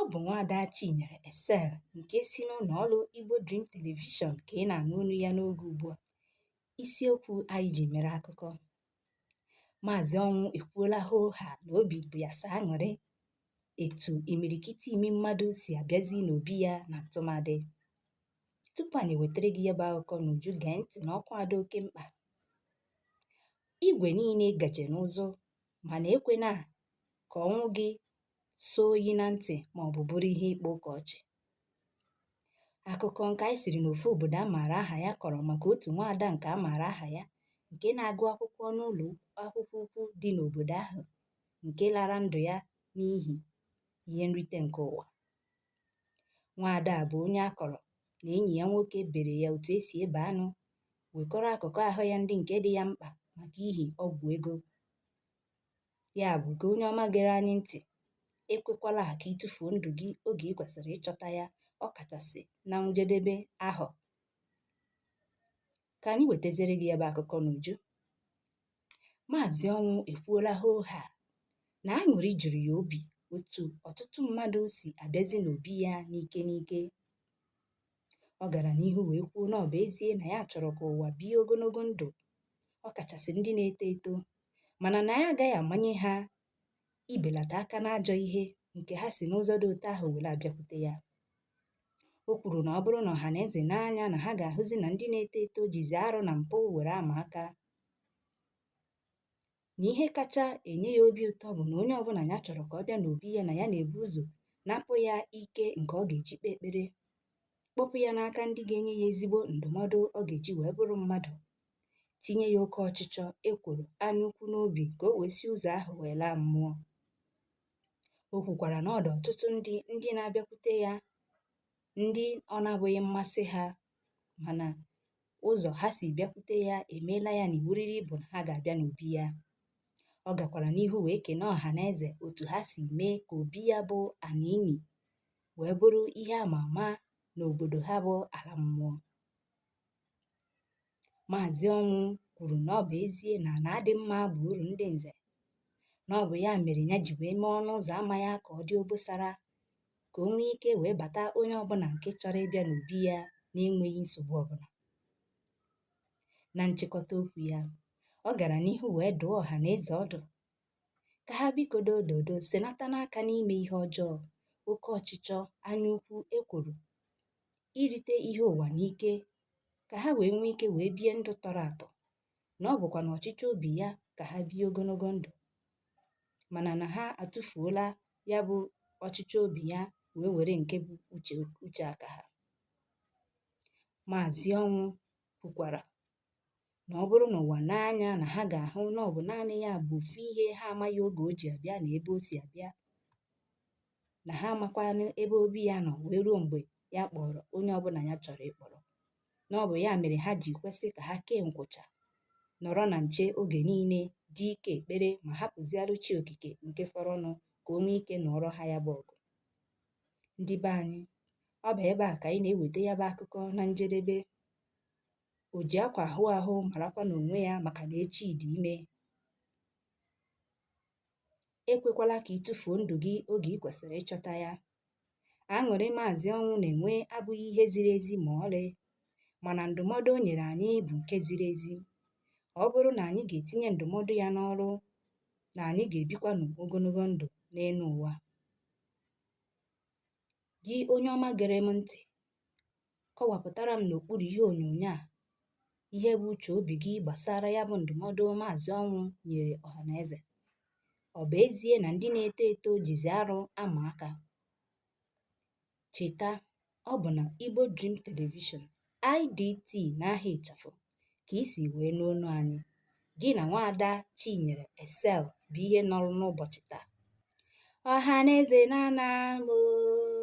Ọ bụ nwaada Chinyere Excel nke si n'ụlọ ọrụ Igbo Dream Television ka ị na-anụ olu ya n'oge ugbu a. Isiokwu anyị ji mere akụkọ. Maazị Ọnwụ ekwuola hoo haa na obi bụ ya sọ aṅụrị etu imirikiti imi mmadụ si abịazi n'obi ya na ntụmadị. Tupu anyị wetara gị ya bụ akụkọ n'uju gee ntị na ọkwa a dị oke mkpa. Igwe niile gaje n'ụzụ mana ekwena ka ọnwụ gị sọ oyi na ntị ma ọ bụ bụrụ ihe ịkpa ụka ọchị. Akụkọ nke anyị siri n'ofu obodo a maara aha ya kọrọ maka otu nwaada nke a maara aha ya nke na-agụ akwụkwọ n'ụlọ akwụkwọ ukwu dị n'obodo ahụ nke lara ndụ ya n'ihi ihe nrite nke ụwa. Nwaada a bụ onye a kọrọ na enyi ya nwoke bere ya otu e si ebe anụ, wekọrọ akụkụ ahụ ya ndị nke dị ya mkpa maka ihi ọgwụ ego. Ya bụ, gị onye ọma gere anyị ntị, ekwekwala ka ị tụfuo ndụ gị oge ị kwesịrị ịchọta ya, ọ kachasị na njedebe ahọ. Ka anyị wetazere gị ya bụ akụkọ n'uju. Maazị Ọnwụ ekwuola hoo haa na aṅụrị juru ya obi otu ọtụtụ mmadụ si abịazi n'obi ya n'ike n'ike. Ọ gara n'ihu wee kwuo na ọ bụ ezie na ya chọrọ ka ụwa bie ogologo ndụ, ọ kachasị ndị na-eto eto, mana na ya agaghị amanye ha ibelata aka n'ajọ ihe nke ha si n'ụzọ dị otu ahụ were abịakwute ya. O kwuru na ọ bụrụ na ọha na eze nee anya na ha ga-ahụzi na ndị na-eto eto jizi arụ na mpụ were ama aka. na ihe kacha enye ya obi ụtọ bụ na onye ọbụla ya chọrọ ka ọ bịa n'obi ya na ya na-ebu ụzọ napụ ya ike nke ọ ga-eji kpee ekpere kpọpụ ya n'aka ndị ga-enye ya ezigbo ndụmọdụ ọ ga-eji wee bụrụ mmadụ tinye ya oke ọchịchọ ekworo anya ukwu n'obi ka o wee si ụzọ ahụ wee laa mmụọ o kwukwara na ọ dụ ọtụtụ ndị ndị na-abịakwute ya ndị ọ na-abụghị mmasị ha mana ụzọ ha si bịakwute ya emeela ya na iwuriri bụ na ha ga-abịa n'obi ya ọ gakwara n'ihu wee kene ọha na eze otu ha si mee ka obi ya bụ ana ini wee bụrụ ihe ama ama n'obodo ha bụ ala mmụọ maazị ọnwụ kwuru na ọ bụ ezie na ana adị mma bụ uru ndị nze na ọ bụ ya mere ya ji wee mee ọnụ ụzọ ama ya ka ọ dị obosara ka o nwee ike wee bata onye ọbụla nke chọrọ ịbịa n'obi ya na-enweghị nsogbu ọbụla. Na nchịkọta okwu ya, ọ gara n'ihu wee dụọ ọha na eze ọdụ ka ha biko dododo senatanụ aka n'ime ihe ọjọọ, oke ọchịchọ, anya ukwu, ekworo, irite ihe ụwa n'ike ka ha wee nwee ike wee bie ndụ tọrọ atọ na ọ bụkwa na ọchịchọ obi ya ka ha bie ogologo ndụ mana na ha atụfuola ya bụ ọchịchọ obi ya wee were nke bụ uche aka ha maazị ọnwụ kwukwara na ọ bụrụ na ụwa nee anya na ha ga-ahụ na ọ bụ naanị ya bụ ofu ihe ha amaghị oge o ji abịa na ebe o si abịa na ha amakwanụ ebe obi ya nọ wee ruo mgbe ya kpọrọ onye ọbụla ya chọrọ ịkpọrọ na ọ bụ ya mere ha ji kwesị ka ha kee nkwụcha nọrọ na nche oge niile dị ike ekpere ma hapụziarụ chi okike nke fọrọnụ ka o nwee ike nụọrọ ha ya bụ ọgụ ndị be anyị ọ bụ ebe a ka anyị na-eweta ya bụ akụkọ na njedebe o ji akwa aghụ ahụ marakwanụ onwe ya maka na echi dị ime ekwekwala ka ị tụfuo ndụ gị oge i kwesịrị ịchọta ya Aṅụrị Maazị Ọnwụ na-enwe abụghị ihe ziri ezi ma ọlị, mana ndụmọdụ o nyere anyị bụ nke ziri ezi. Ọ bụrụ na anyị ga-etinye ndụmọdụ ya n'ọrụ, na anyị ga-ebikwanụ ogologo ndụ n'elu ụwa. Gị onye ọma gere m ntị, Kọwapụtara m n'okpuru ihe onyonyo a ihe bụ uche obi gị gbasara ya bụ ndụmọdụ Maazị Ọnwụ nyere ọhaneze. Ọ bụ ezie na ndị na-eto eto jizi arụ ama aka, cheta ọ bụ na Igbo Dream Television, IDT n'aha ịchafụ ka i si wee nụ olu anyị. Gị na nwaada Chinyere Excel bụ ihe nọrọ n'ụbọchị taa. Ọhaneze na-ana m oo.